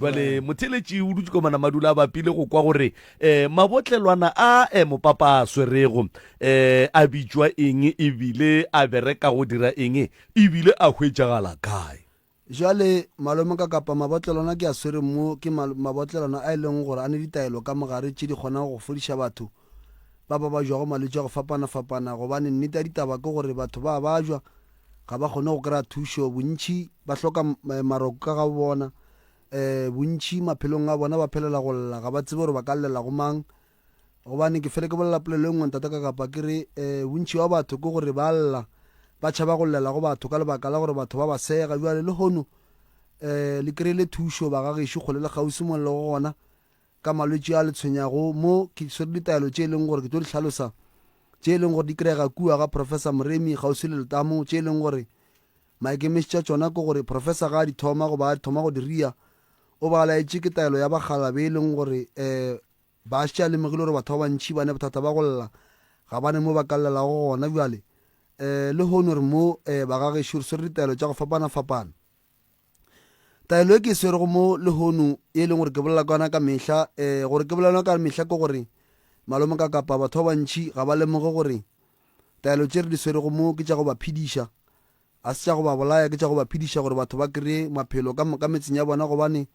bjale mm. motheletši o dutse komana madula a bapile go kwa gore um mabotlelwana a um mopapa a swerego um a bitšwa eng ebile a bereka go dira eng ebile a hwetšagala kae jale malome ka kapa mabotlelwana ke a swereng mo ke mabotlelwana a e leng gore a ne ditaelo ka mogare tše di kgonang go fodiša batho ba babajwago malwetši a go fapana-fapana, gobane nnete ya ditaba ke gore batho ba a bajwa, ga ba kgone go kry-a thušo, bontši ba hloka maroko ka ga bo bona, um bontši maphelong a bona ba phelela go lla, ga ba tsebe gore ba ka llela go mang, gobane ke fele ke bolela polelo e nngwe Ntata Kakapa ke re, um bontši bja batho ke gore ba a lla, ba tšhaba go llela go batho ka lebaka la gore batho ba ba sega, bjale lehono um le kry-ile thušo ba ga gešo kgole le kgauswi mo le lego gona, ka malwetši a le tshwenyago mo ke swere ditaelo tše e leng gore ke tlo di hlalosa, tše e leng gore di kry-ega kua ga Professor Moremi kgauswi le letamo, tše e leng gore maikemišetšo a tšona ke gore Professor ga a di thoma goba a thoma go di ria o ba a laetše ke taelo ya bagala be e leng gore um ba šetše a lemogile gore batho ba bantšhi ba ne bothata ba go lla ga ba ne mo ba ka llelago gona bjale um lehono re mo um bagagešo re swere ditaelo tša go fapana-fapana. Taelo e ke e swerego mo lehono e e leng gore ke bolela ka yona ka mehla um gore ke bolela yona ka mehla ke gore malome ka kapa batho ba bantšhi ga ba lemoge gore taelo tše re di swerego mo ke tša go ba phediša a se tša go ba bolaya ke tša go ba phediša gore batho ba kry-e maphelo ka moka metseng ya bona gobane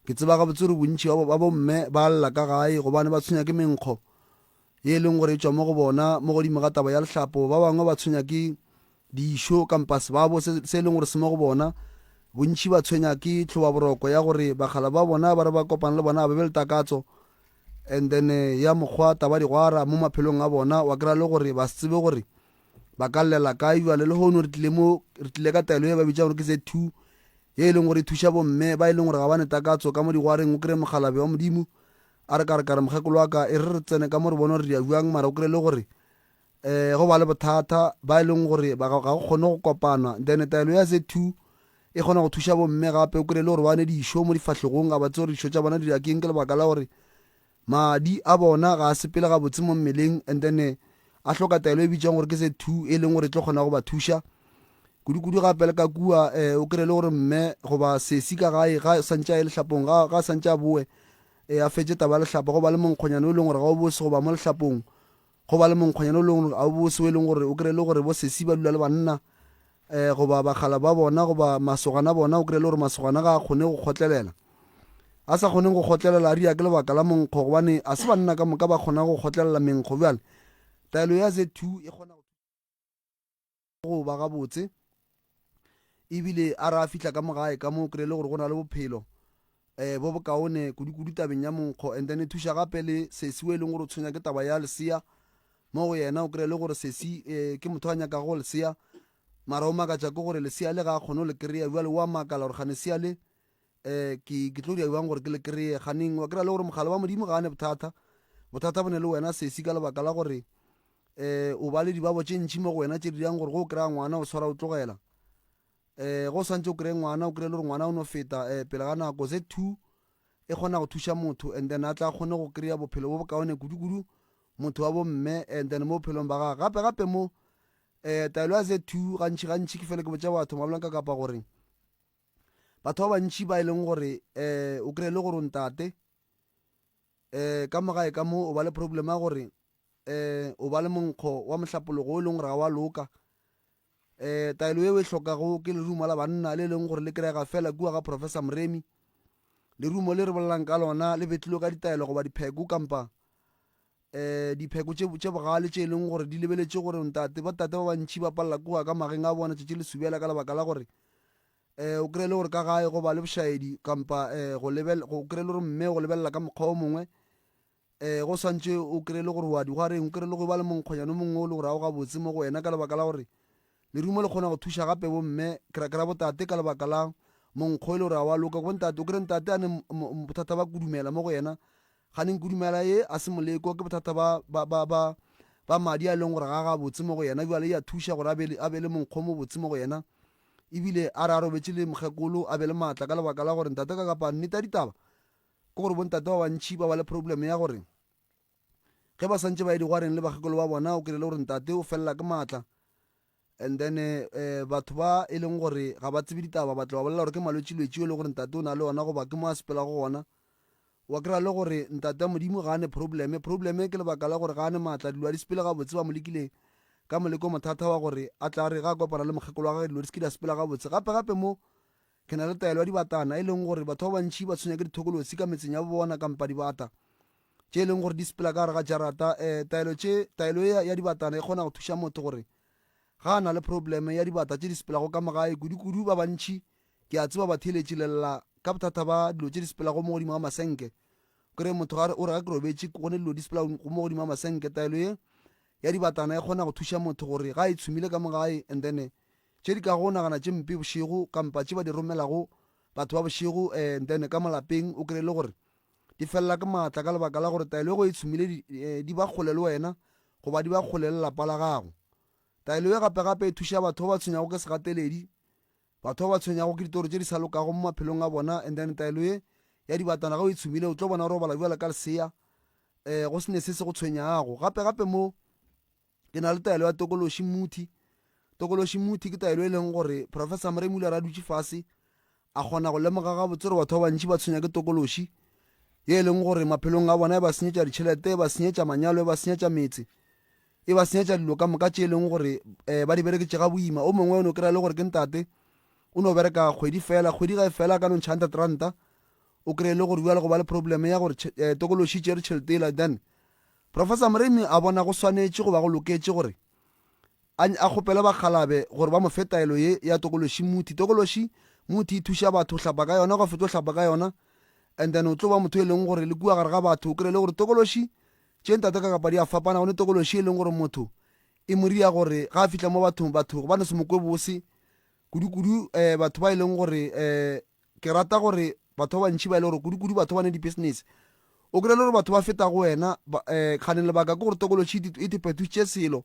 ke tseba ga botsore bontšhi ba bomme ba lla ka gae gobane ba tshwenya ke menkgo ye e leng gore e tswa mo go bona mo godimo ga taba ya lehlapo ba bangwe ba tshwenya ke dišo kampa sebabo se se e leng gore se mo go bona. Bontši ba tshwenya ke tlhobaboroko ya gore bakgalabje ba bona ba re ba kopana le bona ba be le takatso and then ya mokgwa tabadigwara mo maphelong a bona wa kry-a le gore ba se tsebe gore ba ka llela kae jale le hono re tlile mo re tlile ka taelo e ba bitsa gore ke z two ye e leng gore e thuša bomme ba e leng gore ga ba ne takatso ka mo digwareng o kry-e mokgalabe wa modimo a re ka re ka re mokgekolo wa ka e re re tsene ka mo re bone gore re ya jang mara o kry-e le gore um go ba le bothata ba e leng gore ga go kgone go kopana then taelo ya z two e kgona go thuša bomme gape o kry-e le gore ba ne dišo mo difahlegong a ba tse gore dišo tša bona di akeng ke lebaka la gore madi a bona ga a sepele gabotse mo mmeleng and then eh, a hloka taelo e bitsang gore ke se two e leng gore e tlo kgona go ba thuša kudu-kudu gape le ka kua um o kry-e le gore mme goba sesi ka gae ga santse a e letlhapong ga santse a boe um a fetse taba ya letlhapa go ba le monkgonyana o e leng gore ga o bose goba mo letlhapong Go ba le monkgwanyana o le gona ga o bose o e leng gore o kry-e le gore bo sesi ba dula le banna um goba bakgala ba bona goba masogana bona o kry-e le gore masogana ga a kgone go kgotlelela a sa kgoneng go kgotlelela a ria ke lebaka la monkgo gobane a se banna ka moka ba kgona go kgotlelela menkgo bjale taelo ya z two e kgona go ba gabotse ebile a re a fihla ka mogae ka moo kry-e le gore go na le bophelo um bo bokaone kudu-kudu tabeng ya monkgo and then e thuša gape le sesi o e leng gore o tshwenya ke taba ya lesea mo go yena o kry-e le gore sesi um ke motho a nyakago go lesea mara o makatša ke gore lesea le ga a kgone go le kry-a jale o a makala gore gane sea le um ke ke tlo dira bjang gore ke le kry-e ganeng wa kry-a le gore mogala wa modimo ga a ne bothata bothata bo ne le wena sesi ka lebaka la gore um o ba le dibabo tše ntšhi mo go wena tše di dirang gore go o kry-a ngwana o tshwara o tlogela um go o swantse o kry-e ngwana o kry-e le gore ngwana o no feta um pele ga nako ze two e kgona go thuša motho and then a tla kgone go kry-a bophelo bo bokaone kudu-kudu motho wa bomme and then mo bophelong ba gage gape gape mo um taelo ya ze two gantšhi gantšhi ke fele ke botša batho mabolang ka kapa goreng Batho ba bantši ba e leng gore um o kry-e le gore o ntate um ka mogae ka mo o ba le problem ya gore um o ba le monkgo wa mohlapologo o e leng gore ga wa loka um taelo eo e hlokago ke lerumo la banna le e leng gore le kry-ega fela kua ga professor moremi lerumo le re bolelang ka lona le betlilwe ka ditaelo goba dipheko kampa Dipheko tše, tše bogale tše e lego gore di lebeletše gore ntate, bo-tate ba bantši ba palela ke go ya ka mageng a bona tšatši le subela ka lebaka la gore um o kry-e le gore ka gae go ba le bošaedi kampa um go lebel-, go kry-e le gore mme go lebelela ka mokgwa o mongwe um go swantše o kry-e le gore o a di go a reng, o kry-e le go e ba le monkgonyana o mongwe o le gore ga o gabotse mo go wena ka lebaka la gore Lerumo le kgona go thuša gape bomme, ke ra, ke ra botate, ka lebaka la monkgo e le gore ga wa loka. Go ntate, o kry-e ntate a ne bothata ba kudumela mo go yena, ga neng kudumela ye a se moleko, ke bothata ba, ba, ba, ba, ba madi a e leng gore ga a gabotse mo go yena. Bjale ya thuša gore a be le, a be le monkgo o mobotse mo go yena, ebile a re a robetše le mokgekolo a be le maatla ka lebaka la gore ntate. Ka kapa nnete ya ditaba ke gore bo ntate ba bantši ba ba le problem ya gore, ge ba swantše ba ye digwareng le bakgekolo ba bona o kry-ile gore ntate o felela ke maatla and then um batho ba e leng gore ga ba tsebe ditaba ba tla ba bolela gore ke malwetšilwetši yo e le gore ntate o na le ona goba ke mo a sepela go gona wa kry-a le gore ntate modimo ga a ne probleme probleme ke lebaka la gore ga a ne maatla dilo a di sepele gabotse ba mo lekileng ka moleko mothata wa gore a tla re ga a kopana le mokgekolo wa gage dilo di se ke di a sepela gabotse gape gape mo Ke na le taelo ya dibatana, e leng gore batho ba bantši ba tshwenya ke dithokolosi ka metseng ya bo bona kampa dibata tše e leng gore di sepela ka gare ga jarata. Um taelo tše, taelo ye ya dibatana e kgona go thuša motho gore ga a na le probleme ya dibata tše di sepelago ka mo gae. Kudu-kudu ba bantši ke a tseba ba theeletše le lla ka bothata ba dilo tše di sepelago mo godimo ga masenke. O kry-e motho ga o re ga ke robetše go ne dilo di sepela mo godimo ga masenke. Taelo ye ya dibatana e kgona go thuša motho gore ga e tshumile ka mo gae and then tše di kago nagana tše mpe bošego kampa tše ba di romelago batho ba bošego um then ka molapeng o kry le gore di felela ke maatla ka lebaka la gore taelo ego e tshumile di, eh, di ba kgole le wena goba di ba kgole le lapa la gago taelo e gape gape e thuša batho ba ba tshwenyago ke segateledi batho ba ba tshwenyago ke ditoro tše di sa lokago mo maphelong a bona and then taelo ye ya dibatana ga o e tshumile o tlo bona gore o bala bjala ka lesea um go sene se se go tshwenyago gape gape mo ke na le taelo ya tokološi muthi tokološi muthi ke taelo e leng gore professor moremi o ile ra dutše fase a kgona go lemoga gabotse gore batho ba bantši ba tshwenya ke tokološi ye e leng gore maphelong a bona e ba senyetša ditšhelete e ba senyetša manyalo e ba senyetša metse e ba senyetša dilo ka moka tše e leng gore um ba di bereketse ga boima o mongwe o ne o kry-a le gore ke ntate o no bereka kgwedi fela kgwedi ga e fela ka no ntšha hundred ranta o kry-e le gore bjale go ba le problem ya gore eh, tokološi tšere tšhelete ela then Professor Moremi a bona go swanetše go ba go loketše gore a a kgopele bakgalabe gore ba mo fe taelo ye ya tokološi muthi. Tokološi muthi e thuša batho go hlapa ka yona, go fetša go hlapa ka yona, and then o tlo ba motho e leng gore le kua gare ga batho o kry-e le gore tokološi tše ntate ka kapa di a fapana go ne tokološi e leng gore motho e mo ria gore ga a fihla mo bathong batho ba no se mo kwe bose kudu-kudu um batho ba e leng gore um Ke rata gore batho ba bantši ba e le gore kudu-kudu batho ba ne dipisinese, o kry-e le gore batho ba feta go wena. um Kgane lebaka ke gore tokološi e thephethušitše selo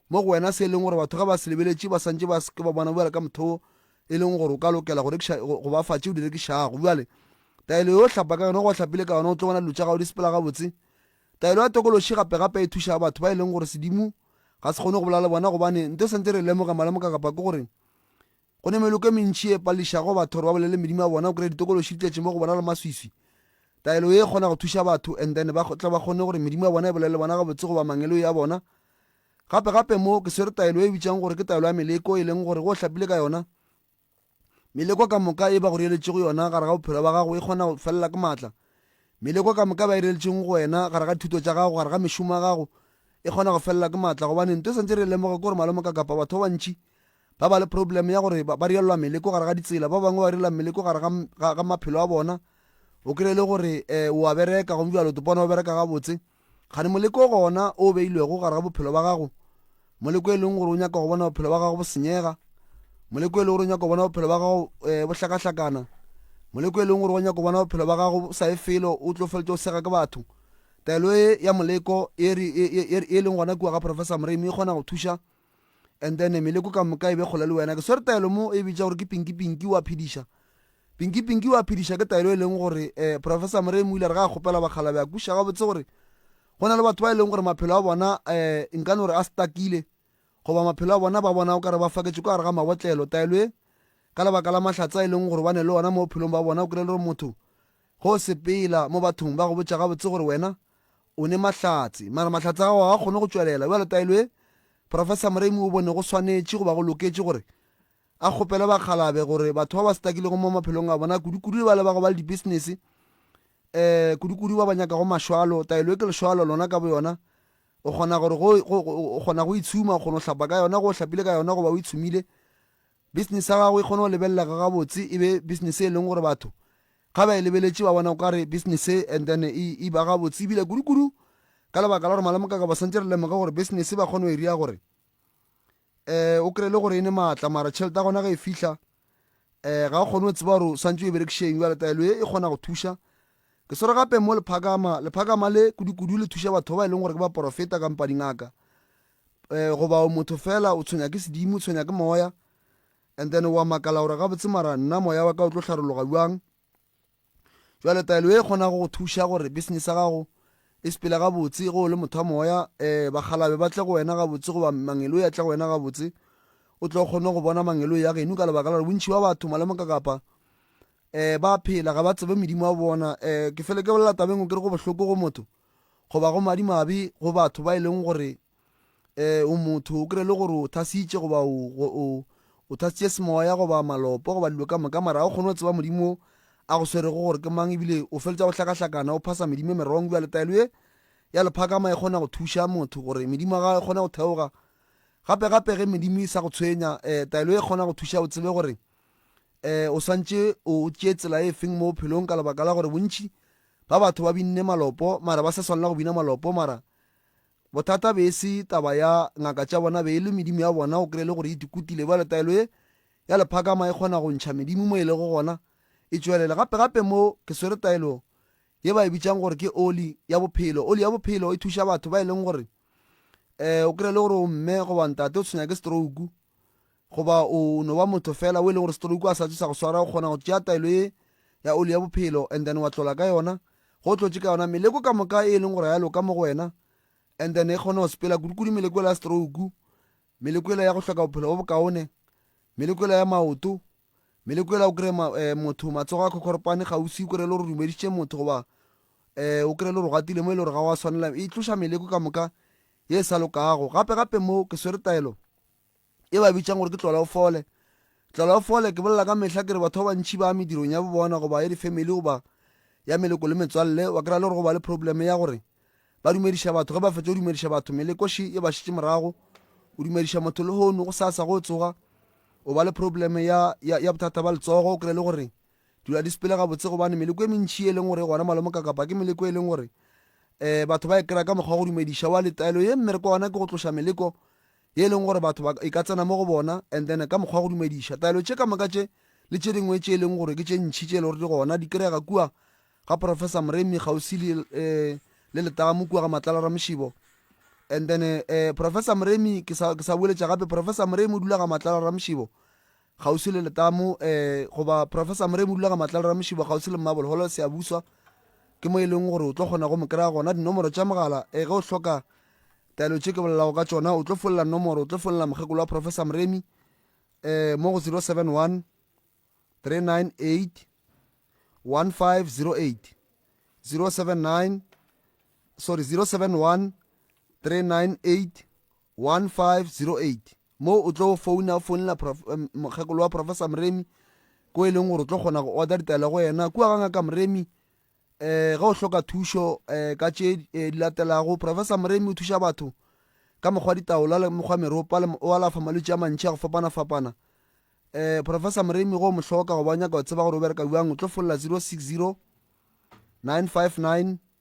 mo go wena se e leng gore batho ge ba se lebeletše ba santše ba seke ba bona bjale ka motho e leng gore o ka lokela go rekiša go ba fa tše o di rekišago. Bjale taelo yo hlapa ka yona go hlapile ka yona o tlo bona dilo tša gago di sepela gabotse. Taelo ya tokološi gape-gape e thuša batho ba e leng gore sedimo ga se kgone go bolela le bona gobane nto santse re lemoga malemoka kapa ke gore Go ne meloko e mentši e pališago batho gore ba bolele medimo ya bona, o kry-a ditokološi di tletše mo go bona le maswiswi. Taelo ye e kgona go thuša batho and then ba tle ba kgone gore medimo ya bona e bolele le bona gabotse goba mangeloi a bona. Gape gape mo ke swere taelo e bitšang gore ke taelo ya meleko e leng gore go hlapile ka yona, meleko ka moka e ba go reeletšego yona gare ga bophelo ba gago e kgona go felela ke maatla. Meleko ka moka e ba e reeletšeng go wena gare ga dithuto tša gago, gare ga mešomo ya gago e kgona go felela ke maatla gobane nto e swantše re e lemoge ke gore malomokakapa batho ba bantši Ba ba le problem ya gore ba rielwa meleko gare ga ditsela, ba bangwe ba rielwa meleko gare ga, ga, maphelo a bona. O kry le gore um o a bereka gomme bjalo o bona o bereka gabotse. Kgane moleko gona o beilwego gare ga bophelo ba gago, moleko e leng gore o nyaka go bona bophelo ba gago bo senyega, moleko e leng gore o nyaka go bona bophelo ba gago um bo hlakahlakana, moleko e leng gore o nyaka go bona bophelo ba gago sa ye felo o tlo feletša o sega ke batho. Taelo e ya moleko e, e, e, e leng gona kua ga Professor Moremi e kgona go thuša and then meleko ka moka e be kgole le wena ke swere taelo mo e bitša gore ke pinki pinki wa phediša pinki pinki wa phediša ke taelo e leng gore um professor moremi o ile re ga a kgopela bakgala be a kuša gabotse gore go na le batho ba e leng gore maphelo a bona um nka no re a stakile goba maphelo a bona ba bona o ka re ba faketše ka gare ga mabotlelo taelo e ka lebaka la mahlatsa e leng gore ba ne le ona mo bophelong ba bona o kry-e le gore motho go sepela mo bathong ba go botša gabotse gore wena O ne mahlatse, mara mahlatse a gago ga a kgone go tšwelela. Bjale taelo ye Professor Moremi o bone go swanetše goba go loketše gore a kgopele bakgalabe gore batho ba ba stuckilego mo maphelong a bona, kudukudu le bale ba go ba le dibisinese, um kudukudu ba ba nyakago mašwalo, taelo ye ke lešwalo lona ka boyona, o kgona gore go, go, go, o kgona go itshuma, o kgona go hlapa ka yona, go o hlapile ka yona goba o itshumile, Bisinese ya gago e kgone go lebelelega gabotse, e be bisinese e leng gore batho ga ba e lebeletše ba bona o ka re bisinese and then e, e ba gabotse. Ebile kudu-kudu ka lebaka la gore malome ka ba swantse re lemoge gore bisinese ba kgone go e ria gore um o kry-e le gore e ne maatla mara tšhelete ya gona ge e fihla um ga o kgone go tseba gore o swantse o e berekišeng jale taelo e e kgona go thuša ke swere gape mo lephakama lephakama le kudu-kudu le thuša batho ba e leng gore ke ba porofeta kampa dingaka eh, goba o motho fela o tshwenya ke sedimo o tshwenya ke moya and then wa makala gore gabotse mara nna moya wa ka o tlo tlharologa bjang jale taelo e kgona go go thuša gore business ya gago e sepele gabotse ge o le motho wa moya um eh, bagalabe ba tle go wena gabotse goba mangelo ya tle go wena gabotse o tlo kgone go bona mangelo ya geno ka lebaka la gore bontšhi ba batho malemoka kapa um ba phela ga ba tsebe medimo wa bona um ke fele ke bolela tabeng o kere go bohloko go motho goba go madimabe go batho ba e leng gore um o motho o kry le gore o thasitše goba o thasitše semoya goba malopo goba dilo ka moka mara ga o kgone go tseba modimo a go swerego gore ke mang ebile o feletsa go hlakahlakana o phasa medimo e merong bjale taelo e ya lephakama e kgona go thuša motho gore medimo ga e kgone go theoga gape gape ge medimo e sa go tshwenya um taelo e kgona go thuša o tsebe gore um o swantše o tšee tsela e feng mo bophelong ka lebaka la gore bontši ba batho ba binne malopo mara ba sa swanela go bina malopo mara bothata be e se taba ya ngaka tša bona be e le medimo ya bona o kry le gore e dikutile ba letaelo e ya lephakama e kgona go ntšha medimo mo e lego gona e tšwelela gape gape mo ke swere taelo ye ba e bitsang gore ke oli ya bophelo oli ya bophelo e thuša batho ba e leng gore um o kry le gore o mme goba ntate o tshwenya ke stroke goba o no ba motho fela o e leng gore stroke a sa tse sa go swara o kgona go tšea taelo ye ya oli ya bophelo and then wa tlola ka yona go tlotše ka yona meleko ka moka e leng gore ya loka mo go wena and then e kgone go sepela kudikudu meleko ya stroke meleko ya go hloka bophelo bo bokaone meleko ya maoto meleko ya o kry eh, motho matsogo a khokhoropane gausi o kry le gore dumeditše motho goba eh, o kry le gore gatile mo e le gore ga wa tshwanela e tloša meleko ka moka ye e sa lokago gape gape mo ke swere taelo e ba bitšang gore ke tlola o fole tlola o fole ke bolela ka mehla ke re batho ba bantšhi ba medirong ya bobona goba ya difamily goba ya meleko le metswalle wa kry-a le gore go ba le probleme ya gore ba dumediša batho ge ba fetsa go dumediša batho melekoši e ba šitše morago o dumediša motho le hono go sasa go tsoga o ba le probleme ya, ya, ya bothata ba letsogo o kry-e le gore dula di sepele gabotse gobane meleko e mentši e leng gore e gona malomo ka kapa ke meleko e leng gore um batho ba e kry-a ka mokgwa wa go dumediša wa letaelo ye mmereko wa gona ke go tloša meleko ye e leng gore batho ba e ka tsena mo go bona and then ka mokgwa wa go dumediša taelo tše ka moka tše le tše dingwe tše e leng gore ke tše ntšhi tše e le gore di gona di kry-ega kua ga professor moremi kgauswi le um le letamo kua ga matlala ramošibo and then uh, professor moremi ke sa boeletša gape professor moremi o dula ga matlala ramošibo kgauswi le letamo um goba professor moremi dulaga matlalo ramošibo kgauswi le mmabolo holo seabuswa ke mo e leng gore o tlo kgona go mo kry-a gona dinomoro tša mogala um ge o hloka taelo tše ke bolelago ka tšona o tlo folela nomoro o tlo folela mokgekolo wa professor moremi um mo go 071 398 1508 079 sorry 071 398 1508 Mo o tlo founa, o founela mokgekolo wa Professor Mremi, ko e leng gore o tlo kgona go order ditaelo go yena. Kua ga ngaka Mremi, eh ge o hloka thušo eh ka tše eh, di latelago professor moremi o thuša batho ka mokgwa ditaola le mokgwa meropa le o alafa malwetse a mantšhi a go fapana-fapana eh professor moremi go mo hloka go ba nyaka go tseba gore o bereka bjang o tlo folola 060 959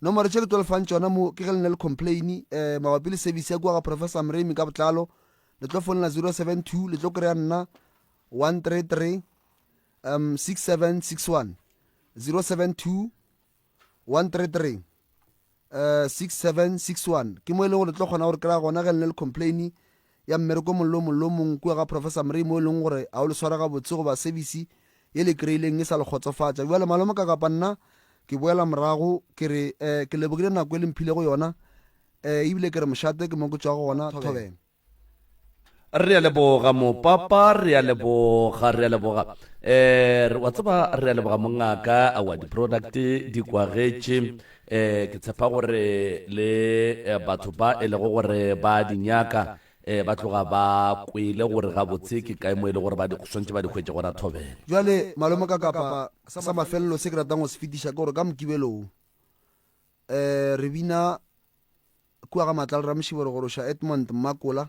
Nomoro tše ke tlo lefang tšona mo ke ge le ne le complain eh, mabapi le service ya kua ga Professor Mremi ka botlalo le tlo fonela 072 le tlo kry-a nna 133 um 6761 072 133 uh, 6761 ke mo e leng gore le tlo kgona gore kry-a gona ge le ne le complaini ya mmereko mollo o mollo o mong kua ga Professor Mrey mo e lego gore a o le swara gabotse goba sebisi ye le kreileng e sa le kgotsofatša. Bjale, malome, ka kapa nna ke boela morago, ke re, eh, ke lebogile nako e le mphilego yona, eh, ebile ke re mošate ke mo ke tšwago gona thobeng. Re a leboga, Mopapa, re a leboga, re a leboga. Eh, re, wa tseba, re a leboga, mongaka, aowa, di-product di kwagetše. Ee, ke tshepa gore le eh, batho ba e lego gore ba a di nyaka eh, ba tloga ba kwele gore gabotse ke kae mo e le gore ba di- swantše ba di hwetše gona thobela. Bjale, malome ka kapa sa mafelelo se ke ratang go se fetiša ke gore ka mokibelo wo, um re bina kua ga matla le ramošiboro gore o ša Edmond Mmakola,